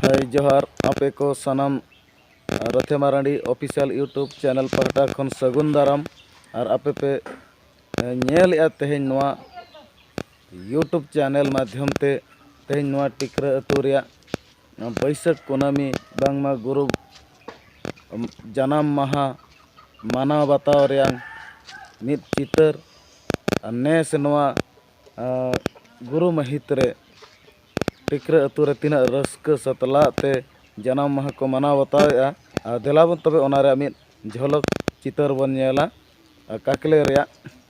ᱦᱳᱭ ᱡᱚᱦᱟᱨ ᱟᱯᱮ ᱠᱚ ᱥᱟᱱᱟᱢ ᱨᱚᱛᱷᱮ ᱢᱟᱨᱟᱱᱰᱤ ᱚᱯᱷᱤᱥᱤᱭᱟᱞ ᱤᱭᱩᱴᱩᱵᱽ ᱪᱮᱱᱮᱞ ᱯᱟᱦᱴᱟ ᱠᱷᱚᱱ ᱥᱟᱹᱜᱩᱱ ᱫᱟᱨᱟᱢ ᱟᱨ ᱟᱯᱮ ᱯᱮ ᱧᱮᱞᱮᱫᱼᱟ ᱛᱮᱦᱮᱧ ᱱᱚᱣᱟ ᱤᱭᱩᱴᱩᱵᱽ ᱪᱮᱱᱮᱞ ᱢᱟᱫᱽᱫᱷᱚᱢ ᱛᱮ ᱛᱮᱦᱮᱧ ᱱᱚᱣᱟ ᱴᱤᱠᱨᱟᱹ ᱟᱹᱛᱩ ᱨᱮᱭᱟᱜ ᱱᱚᱣᱟ ᱵᱟᱹᱭᱥᱟᱹᱠᱷ ᱠᱩᱱᱟᱹᱢᱤ ᱵᱟᱝᱢᱟ ᱜᱩᱨᱩ ᱡᱟᱱᱟᱢ ᱢᱟᱦᱟ ᱢᱟᱱᱟᱣ ᱵᱟᱛᱟᱣ ᱨᱮᱭᱟᱝ ᱢᱤᱫ ᱪᱤᱛᱟᱹᱨ ᱟᱨ ᱱᱮᱥ ᱱᱚᱣᱟ ᱜᱩᱨᱩ ᱢᱟᱹᱦᱤᱛ ᱨᱮ ᱴᱤᱠᱨᱟᱹ ᱟᱹᱛᱩ ᱨᱮ ᱛᱤᱱᱟᱹᱜ ᱨᱟᱹᱥᱠᱟᱹ ᱥᱟᱛᱞᱟᱜ ᱛᱮ ᱡᱟᱱᱟᱢ ᱢᱟᱦᱟ ᱠᱚ ᱢᱟᱱᱟᱣ ᱵᱟᱛᱟᱣᱮᱜᱼᱟ ᱟᱨ ᱫᱮᱞᱟᱵᱚᱱ ᱛᱚᱵᱮ ᱚᱱᱟ ᱨᱮᱭᱟᱜ ᱢᱤᱫ ᱡᱷᱚᱞᱚᱠ ᱪᱤᱛᱟᱹᱨ ᱵᱚᱱ ᱧᱮᱞᱟ ᱟᱨ ᱠᱟᱠᱞᱮ ᱨᱮᱭᱟᱜ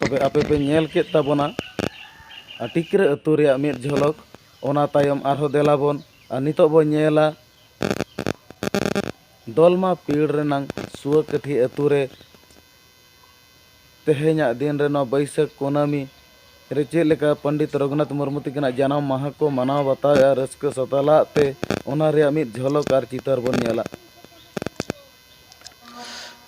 ᱛᱚᱵᱮ ᱟᱯᱮ ᱯᱮ ᱧᱮᱞ ᱠᱮᱫ ᱛᱟᱵᱚᱱᱟ ᱟᱴᱤᱠᱨᱟᱹ ᱟᱹᱛᱩ ᱨᱮᱭᱟᱜ ᱢᱤᱫ ᱡᱷᱚᱞᱚᱠ ᱚᱱᱟ ᱛᱟᱭᱚᱢ ᱟᱨᱦᱚᱸ ᱫᱮᱞᱟ ᱵᱚᱱ ᱟᱨ ᱱᱤᱛᱚᱜ ᱵᱚᱱ ᱧᱮᱞᱟ ᱫᱚᱞᱢᱟ ᱯᱤᱲ ᱨᱮᱱᱟᱝ ᱥᱩᱣᱟᱹᱠᱟᱹᱴᱷᱤ ᱟᱹᱛᱩ ᱨᱮ ᱛᱮᱦᱮᱧᱟᱜ ᱫᱤᱱ ᱨᱮ ᱱᱚᱣᱟ ᱵᱟᱹᱭᱥᱟᱹᱠᱷ ᱠᱩᱱᱟᱹᱢᱤ ᱨᱮ ᱪᱮᱫ ᱞᱮᱠᱟ ᱯᱚᱱᱰᱤᱛ ᱨᱚᱜᱷᱩᱱᱟᱛᱷ ᱢᱩᱨᱢᱩ ᱛᱟᱹᱠᱤᱱᱟᱜ ᱡᱟᱱᱟᱢ ᱢᱟᱦᱟ ᱠᱚ ᱢᱟᱱᱟᱣ ᱵᱟᱛᱟᱣᱮᱜᱼᱟ ᱨᱟᱹᱥᱠᱟᱹ ᱥᱟᱛᱟᱞᱟᱜ ᱛᱮ ᱚᱱᱟ ᱨᱮᱭᱟᱜ ᱢᱤᱫ ᱡᱷᱚᱞᱚᱠ ᱟᱨ ᱪᱤᱛᱟᱹᱨ ᱵᱚᱱ ᱧᱮᱞᱟ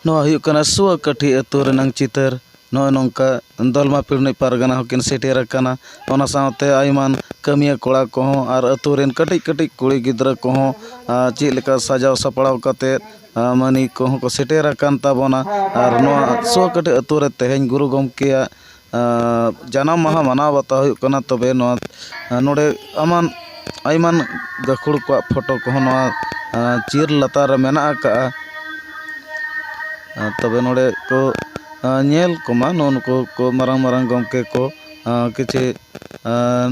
ᱱᱚᱣᱟ ᱦᱩᱭᱩᱜ ᱠᱟᱱᱟ ᱥᱩᱭᱟᱹᱠᱟᱹᱴᱷᱤ ᱟᱹᱛᱩ ᱨᱮᱱᱟᱝ ᱪᱤᱛᱟᱹᱨ ᱱᱚᱜᱼᱚᱭ ᱱᱚᱝᱠᱟ ᱫᱚᱞᱢᱟ ᱯᱟᱨᱤᱱᱤᱛ ᱯᱟᱨᱜᱟᱱᱟ ᱦᱚᱸᱠᱤᱱ ᱥᱮᱴᱮᱨ ᱟᱠᱟᱱᱟ ᱚᱱᱟ ᱥᱟᱶᱛᱮ ᱟᱭᱢᱟ ᱠᱟᱹᱢᱤᱭᱟᱹ ᱠᱚᱲᱟ ᱠᱚᱦᱚᱸ ᱟᱨ ᱟᱹᱛᱩ ᱨᱮᱱ ᱠᱟᱹᱴᱤᱡ ᱠᱟᱹᱴᱤᱡ ᱠᱩᱲᱤ ᱜᱤᱫᱽᱨᱟᱹ ᱠᱚᱦᱚᱸ ᱪᱮᱫ ᱞᱮᱠᱟ ᱥᱟᱡᱟᱣ ᱥᱟᱯᱲᱟᱣ ᱠᱟᱛᱮᱫ ᱢᱟᱹᱱᱤᱠ ᱠᱚᱦᱚᱸ ᱠᱚ ᱥᱮᱴᱮᱨ ᱟᱠᱟᱱ ᱛᱟᱵᱚᱱᱟ ᱟᱨ ᱱᱚᱣᱟ ᱥᱩᱭᱟᱹᱠᱟᱹᱴᱷᱤ ᱟᱹᱛᱩ ᱨᱮ ᱛᱮᱦᱮᱧ ᱜᱩᱨᱩ ᱜᱚᱢᱠᱮᱭᱟᱜ ᱡᱟᱱᱟᱢ ᱢᱟᱦᱟ ᱢᱟᱱᱟᱣ ᱵᱟᱛᱟᱣ ᱦᱩᱭᱩᱜ ᱠᱟᱱᱟ ᱛᱚᱵᱮ ᱱᱚᱣᱟ ᱱᱚᱰᱮ ᱟᱢᱟᱜ ᱟᱭᱢᱟᱱ ᱜᱟᱹᱠᱷᱩᱲ ᱠᱚᱣᱟᱜ ᱯᱷᱳᱴᱳ ᱠᱚᱦᱚᱸ ᱱᱚᱣᱟ ᱪᱤᱭᱟᱹᱨ ᱞᱟᱛᱟᱨ ᱨᱮ ᱢᱮᱱᱟᱜ ᱟᱠᱟᱫᱼᱟ ᱛᱚᱵᱮ ᱱᱚᱰᱮ ᱠᱚ ᱧᱮᱞ ᱠᱚᱢᱟ ᱱᱩᱜᱼᱩ ᱱᱩᱠᱩ ᱠᱚ ᱢᱟᱨᱟᱝ ᱢᱟᱨᱟᱝ ᱜᱚᱢᱠᱮ ᱠᱚ ᱠᱤᱪᱷᱤ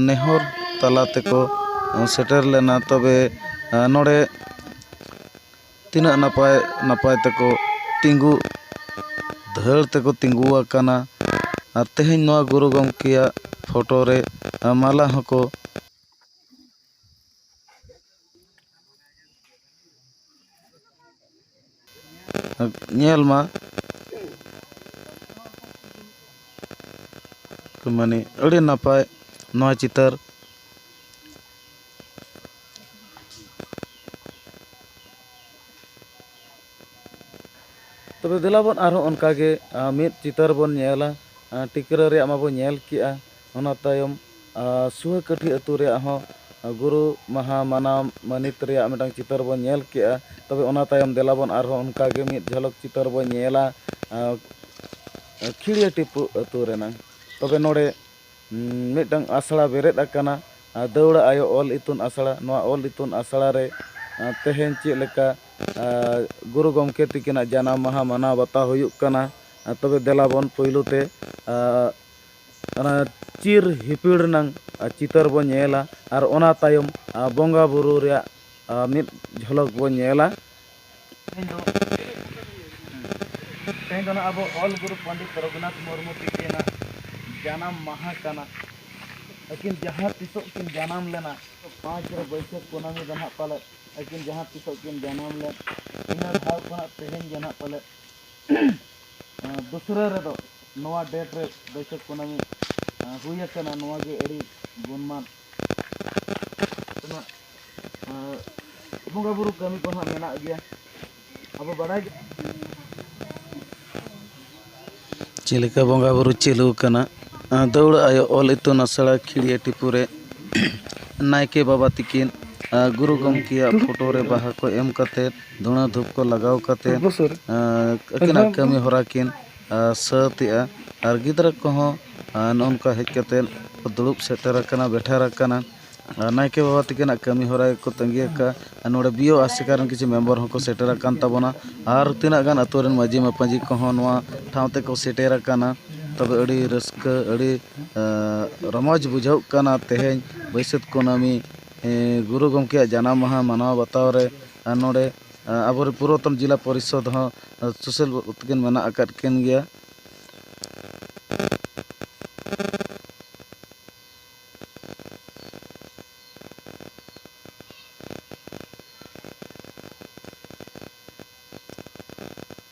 ᱱᱮᱦᱚᱨ ᱛᱟᱞᱟ ᱛᱮᱠᱚ ᱥᱮᱴᱮᱨ ᱞᱮᱱᱟ ᱛᱚᱵᱮ ᱱᱚᱰᱮ ᱛᱤᱱᱟᱹᱜ ᱱᱟᱯᱟᱭ ᱱᱟᱯᱟᱭ ᱛᱮᱠᱚ ᱛᱤᱸᱜᱩ ᱫᱷᱟᱹᱲ ᱛᱮᱠᱚ ᱛᱤᱸᱜᱩ ᱟᱠᱟᱱᱟ ᱟᱨ ᱛᱮᱦᱮᱧ ᱱᱚᱣᱟ ᱜᱩᱨᱩ ᱜᱚᱢᱠᱮᱭᱟᱜ ᱯᱷᱳᱴᱳ ᱨᱮ ᱢᱟᱞᱟ ᱦᱚᱸᱠᱚ ᱧᱮᱞ ᱢᱟ ᱢᱟᱱᱮ ᱟᱹᱰᱤ ᱱᱟᱯᱟᱭ ᱱᱚᱣᱟ ᱪᱤᱛᱟᱹᱨ ᱛᱚᱵᱮ ᱫᱮᱞᱟ ᱵᱚᱱ ᱟᱨᱦᱚᱸ ᱚᱱᱠᱟ ᱜᱮ ᱢᱤᱫ ᱪᱤᱛᱟᱹᱨ ᱵᱚᱱ ᱧᱮᱞᱟ ᱴᱤᱠᱨᱟᱹ ᱨᱮᱭᱟᱜ ᱢᱟᱵᱚᱱ ᱧᱮᱞ ᱠᱮᱜᱼᱟ ᱚᱱᱟ ᱛᱟᱭᱚᱢ ᱥᱩᱦᱟᱹᱠᱟᱹᱴᱷᱤ ᱟᱛᱳ ᱨᱮᱭᱟᱜ ᱦᱚᱸ ᱜᱩᱨᱩ ᱢᱟᱦᱟ ᱢᱟᱱᱟᱣ ᱢᱟᱹᱱᱤᱛ ᱨᱮᱭᱟᱜ ᱢᱤᱫᱴᱟᱝ ᱪᱤᱛᱟᱹᱨ ᱵᱚᱱ ᱧᱮᱞ ᱠᱮᱜᱼᱟ ᱛᱚᱵᱮ ᱚᱱᱟ ᱛᱟᱭᱚᱢ ᱫᱮᱞᱟ ᱵᱚᱱ ᱟᱨᱦᱚᱸ ᱚᱱᱠᱟ ᱜᱮ ᱢᱤᱫ ᱡᱷᱟᱞᱚᱠ ᱪᱤᱛᱟᱹᱨ ᱵᱚᱱ ᱧᱮᱞᱟ ᱠᱷᱤᱲᱭᱟᱹ ᱴᱤᱯᱩ ᱟᱛᱳ ᱨᱮᱱᱟᱜ ᱛᱚᱵᱮ ᱱᱚᱰᱮ ᱢᱤᱫᱴᱟᱝ ᱟᱥᱲᱟ ᱵᱮᱨᱮᱫ ᱟᱠᱟᱱᱟ ᱫᱟᱹᱣᱲᱟᱹ ᱟᱭᱳ ᱚᱞ ᱤᱛᱩᱱ ᱟᱥᱲᱟ ᱱᱚᱣᱟ ᱚᱞ ᱤᱛᱩᱱ ᱟᱥᱲᱟ ᱨᱮ ᱛᱮᱦᱮᱧ ᱪᱮᱫ ᱞᱮᱠᱟ ᱜᱩᱨᱩ ᱜᱚᱢᱠᱮ ᱛᱤᱠᱤᱱᱟᱜ ᱡᱟᱱᱟᱢ ᱢᱟᱦᱟ ᱢᱟᱱᱟᱣ ᱵᱟᱛᱟᱣ ᱦᱩᱭᱩᱜ ᱠᱟᱱᱟ ᱛᱚᱵᱮ ᱫᱮᱞᱟ ᱵᱚᱱ ᱯᱳᱭᱞᱳ ᱛᱮ ᱚᱱᱟ ᱪᱤᱨ ᱦᱤᱯᱤᱲ ᱨᱮᱱᱟᱝ ᱪᱤᱛᱟᱹᱨ ᱵᱚᱱ ᱧᱮᱞᱟ ᱟᱨ ᱚᱱᱟ ᱛᱟᱭᱚᱢ ᱵᱚᱸᱜᱟᱼᱵᱩᱨᱩ ᱨᱮᱭᱟᱜ ᱢᱤᱫ ᱡᱷᱚᱞᱚᱠ ᱵᱚᱱ ᱧᱮᱞᱟ ᱛᱮᱦᱮᱧ ᱫᱚ ᱛᱮᱦᱮᱧ ᱫᱚ ᱱᱟᱜ ᱟᱵᱚ ᱚᱞ ᱜᱩᱨᱩ ᱯᱚᱱᱰᱤᱛ ᱨᱚᱜᱷᱩᱱᱟᱛᱷ ᱢᱩᱨᱢᱩ ᱛᱤᱠᱤᱱᱟᱜ ᱡᱟᱱᱟᱢ ᱢᱟᱦᱟ ᱠᱟᱱᱟ ᱟᱹᱠᱤᱱ ᱡᱟᱦᱟᱸ ᱛᱤᱥᱚᱜ ᱠᱤᱱ ᱡᱟᱱᱟᱢ ᱞᱮᱱᱟ ᱯᱟᱸᱪ ᱨᱮ ᱵᱟᱹᱭᱥᱟᱹᱠᱷ ᱠᱩᱱᱟᱹᱢᱤ ᱫᱚ ᱱᱟᱜ ᱯᱟᱞᱮᱫ ᱟᱹᱠᱤᱱ ᱡᱟᱦᱟᱸ ᱛᱤᱥᱚᱜ ᱠᱤᱱ ᱡᱟᱱᱟᱢ ᱞᱮᱱ ᱤᱱᱟᱹ ᱫᱷᱟᱣ ᱠᱷᱚᱱᱟᱜ ᱛᱮᱦᱮᱧ ᱜᱮ ᱱᱟᱜ ᱯᱟᱞᱮᱫ ᱫᱚᱥᱨᱟᱹ ᱨᱮᱫᱚ ᱱᱚᱣᱟ ᱰᱮᱴ ᱨᱮ ᱵᱟᱹᱭᱥᱟᱹᱠᱷ ᱠᱩᱱᱟᱹᱢᱤ ᱦᱩᱭ ᱟᱠᱟᱱᱟ ᱱᱚᱣᱟ ᱜᱮ ᱟᱹᱰᱤ ᱜᱩᱱᱢᱟᱱ ᱵᱚᱸᱜᱟ ᱵᱩᱨᱩ ᱠᱟᱹᱢᱤ ᱠᱚ ᱱᱟᱦᱟᱜ ᱢᱮᱱᱟᱜ ᱜᱮᱭᱟ ᱟᱵᱚ ᱵᱟᱲᱟᱭ ᱜᱮ ᱪᱮᱫ ᱞᱮᱠᱟ ᱵᱚᱸᱜᱟ ᱵᱩᱨᱩ ᱪᱟᱹᱞᱩ ᱟᱠᱟᱱᱟ ᱫᱟᱹᱣᱲᱟᱹ ᱟᱭᱳ ᱚᱞ ᱤᱛᱩᱱ ᱟᱥᱲᱟ ᱠᱷᱤᱲᱭᱟᱹ ᱴᱤᱯᱩ ᱨᱮ ᱱᱟᱭᱠᱮ ᱵᱟᱵᱟ ᱛᱤᱠᱤᱱ ᱜᱩᱨᱩ ᱜᱚᱢᱠᱮᱭᱟᱜ ᱯᱷᱳᱴᱳ ᱨᱮ ᱵᱟᱦᱟ ᱠᱚ ᱮᱢ ᱠᱟᱛᱮᱫ ᱫᱷᱩᱬᱟᱹ ᱫᱷᱩᱯ ᱠᱚ ᱞᱟᱜᱟᱣ ᱠᱟᱛᱮᱫ ᱟᱹᱠᱤᱱᱟᱜ ᱠᱟᱹᱢᱤ ᱦᱚᱨᱟ ᱠᱤᱱ ᱥᱟᱹᱛ ᱮᱫᱼᱟ ᱟᱨ ᱜᱤᱫᱽᱨᱟᱹ ᱠᱚᱦᱚᱸ ᱱᱚᱜᱼᱚ ᱱᱚᱝᱠᱟ ᱦᱮᱡ ᱠᱟᱛᱮᱫ ᱠᱚ ᱫᱩᱲᱩᱵ ᱥᱮᱴᱮᱨ ᱟᱠᱟᱱᱟ ᱵᱮᱴᱷᱮᱨ ᱟᱠᱟᱱᱟ ᱟᱨ ᱱᱟᱭᱠᱮ ᱵᱟᱵᱟ ᱛᱟᱹᱠᱤᱱᱟᱜ ᱠᱟᱹᱢᱤ ᱦᱚᱨᱟ ᱜᱮᱠᱚ ᱛᱟᱹᱜᱤ ᱟᱠᱟᱫᱼᱟ ᱟᱨ ᱱᱚᱰᱮ ᱵᱤ ᱳ ᱟᱥᱮᱠᱟ ᱨᱮᱱ ᱠᱤᱪᱷᱩ ᱢᱮᱢᱵᱚᱨ ᱦᱚᱸᱠᱚ ᱥᱮᱴᱮᱨ ᱟᱠᱟᱱ ᱛᱟᱵᱚᱱᱟ ᱟᱨ ᱛᱤᱱᱟᱹᱜ ᱜᱟᱱ ᱟᱹᱛᱩ ᱨᱮᱱ ᱢᱟᱹᱡᱷᱤ ᱢᱟᱯᱟᱡᱷᱤ ᱠᱚᱦᱚᱸ ᱱᱚᱣᱟ ᱴᱷᱟᱶ ᱛᱮᱠᱚ ᱥᱮᱴᱮᱨ ᱟᱠᱟᱱᱟ ᱛᱚᱵᱮ ᱟᱹᱰᱤ ᱨᱟᱹᱥᱠᱟᱹ ᱟᱹᱰᱤ ᱨᱚᱢᱚᱡᱽ ᱵᱩᱡᱷᱟᱹᱜ ᱠᱟᱱᱟ ᱛᱮᱦᱮᱧ ᱵᱟᱹᱭᱥᱟᱹᱠᱷ ᱠᱩᱱᱟᱹᱢᱤ ᱜᱩᱨᱩ ᱜᱚᱢᱠᱮᱭᱟᱜ ᱡᱟᱱᱟᱢ ᱢᱟᱦᱟ ᱢᱟᱱᱟᱣ ᱵᱟᱛᱟᱣ ᱨᱮ ᱟᱨ ᱱᱚᱰᱮ ᱟᱵᱚ ᱨᱮᱱ ᱯᱩᱨᱟᱛᱚᱱ ᱡᱮᱞᱟ ᱯᱚᱨᱤᱥᱚᱫᱽ ᱦᱚᱸ ᱥᱩᱥᱤᱞ ᱵᱟᱹᱵᱩ ᱛᱟᱹᱠᱤᱱ ᱢᱮᱱᱟᱜ ᱟᱠᱟᱫ ᱠᱤᱱ ᱜᱮᱭᱟ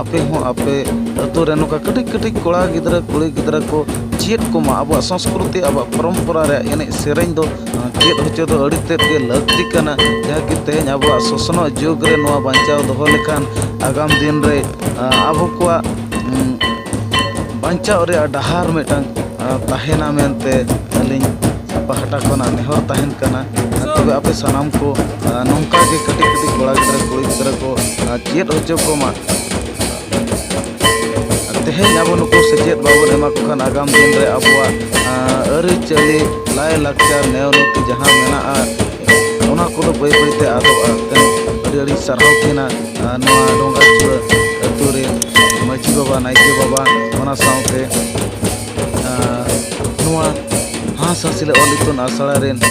ᱟᱯᱮ ᱦᱚᱸ ᱟᱯᱮ ᱟᱹᱛᱩ ᱨᱮ ᱱᱚᱝᱠᱟ ᱠᱟᱹᱴᱤᱡ ᱠᱟᱹᱴᱤᱡ ᱠᱚᱲᱟ ᱜᱤᱫᱽᱨᱟᱹ ᱠᱩᱲᱤ ᱜᱤᱫᱽᱨᱟᱹ ᱠᱚ ᱪᱮᱫ ᱠᱚᱢᱟ ᱟᱵᱚᱣᱟᱜ ᱥᱚᱝᱥᱠᱨᱤᱛᱤ ᱟᱵᱚᱣᱟᱜ ᱯᱚᱨᱚᱢᱯᱚᱨᱟ ᱨᱮᱭᱟᱜ ᱮᱱᱮᱡ ᱥᱮᱨᱮᱧ ᱫᱚ ᱪᱮᱫ ᱦᱚᱪᱚ ᱫᱚ ᱟᱹᱰᱤ ᱛᱮᱫ ᱜᱮ ᱞᱟᱹᱠᱛᱤ ᱠᱟᱱᱟ ᱡᱟᱦᱟᱸ ᱠᱤ ᱛᱮᱦᱮᱧ ᱟᱵᱚᱣᱟᱜ ᱥᱚᱥᱱᱚᱜ ᱡᱩᱜᱽ ᱨᱮ ᱱᱚᱣᱟ ᱵᱟᱧᱪᱟᱣ ᱫᱚᱦᱚ ᱞᱮᱠᱷᱟᱱ ᱟᱜᱟᱢ ᱫᱤᱱ ᱨᱮ ᱟᱵᱚ ᱠᱚᱣᱟᱜ ᱵᱟᱧᱪᱟᱣ ᱨᱮᱭᱟᱜ ᱰᱟᱦᱟᱨ ᱢᱤᱫᱴᱟᱝ ᱛᱟᱦᱮᱱᱟ ᱢᱮᱱᱛᱮ ᱟᱹᱞᱤᱧ ᱯᱟᱦᱴᱟ ᱠᱷᱚᱱᱟᱜ ᱱᱮᱦᱚᱨ ᱛᱟᱦᱮᱱ ᱠᱟᱱᱟ ᱛᱚᱵᱮ ᱟᱯᱮ ᱥᱟᱱᱟᱢ ᱠᱚ ᱱᱚᱝᱠᱟ ᱜᱮ ᱠᱟᱹᱴᱤᱡ ᱠᱟᱹᱴᱤᱡ ᱠᱚᱲᱟ ᱜᱤᱫᱽᱨᱟᱹ ᱠᱩᱲᱤ ᱜᱤᱫᱽᱨᱟᱹ ᱠᱚ ᱪᱮᱫ ᱦᱚᱪᱚ ᱠᱚᱢᱟ ᱛᱮᱦᱮᱧ ᱟᱵᱚ ᱱᱩᱠᱩ ᱥᱮᱪᱮᱫ ᱵᱟᱵᱚᱱ ᱮᱢᱟ ᱠᱚ ᱠᱷᱟᱱ ᱟᱜᱟᱢ ᱫᱤᱱ ᱨᱮ ᱟᱵᱚᱣᱟᱜ ᱟᱹᱨᱤᱪᱟᱹᱞᱤ ᱞᱟᱭᱼᱞᱟᱠᱪᱟᱨ ᱱᱮᱣ ᱱᱤᱛᱤ ᱡᱟᱦᱟᱸ ᱢᱮᱱᱟᱜᱼᱟ ᱚᱱᱟ ᱠᱚᱫᱚ ᱵᱟᱹᱭ ᱵᱟᱹᱭᱛᱮ ᱟᱫᱚᱜᱼᱟ ᱟᱹᱰᱤ ᱟᱹᱰᱤ ᱥᱟᱨᱦᱟᱣ ᱛᱟᱦᱮᱱᱟ ᱱᱚᱣᱟ ᱰᱚᱸᱜᱟ ᱪᱩᱲᱟᱹ ᱟᱹᱛᱩ ᱨᱮ ᱢᱟᱹᱡᱷᱤ ᱵᱟᱵᱟ ᱱᱟᱭᱠᱮ ᱵᱟᱵᱟ ᱚᱱᱟ ᱥᱟᱶᱛᱮ ᱱᱚᱣᱟ ᱦᱟᱸᱥ ᱦᱟᱸᱥᱤᱞ ᱚᱞ ᱤᱛᱩᱱ ᱟᱥᱲᱟ ᱨᱮᱱ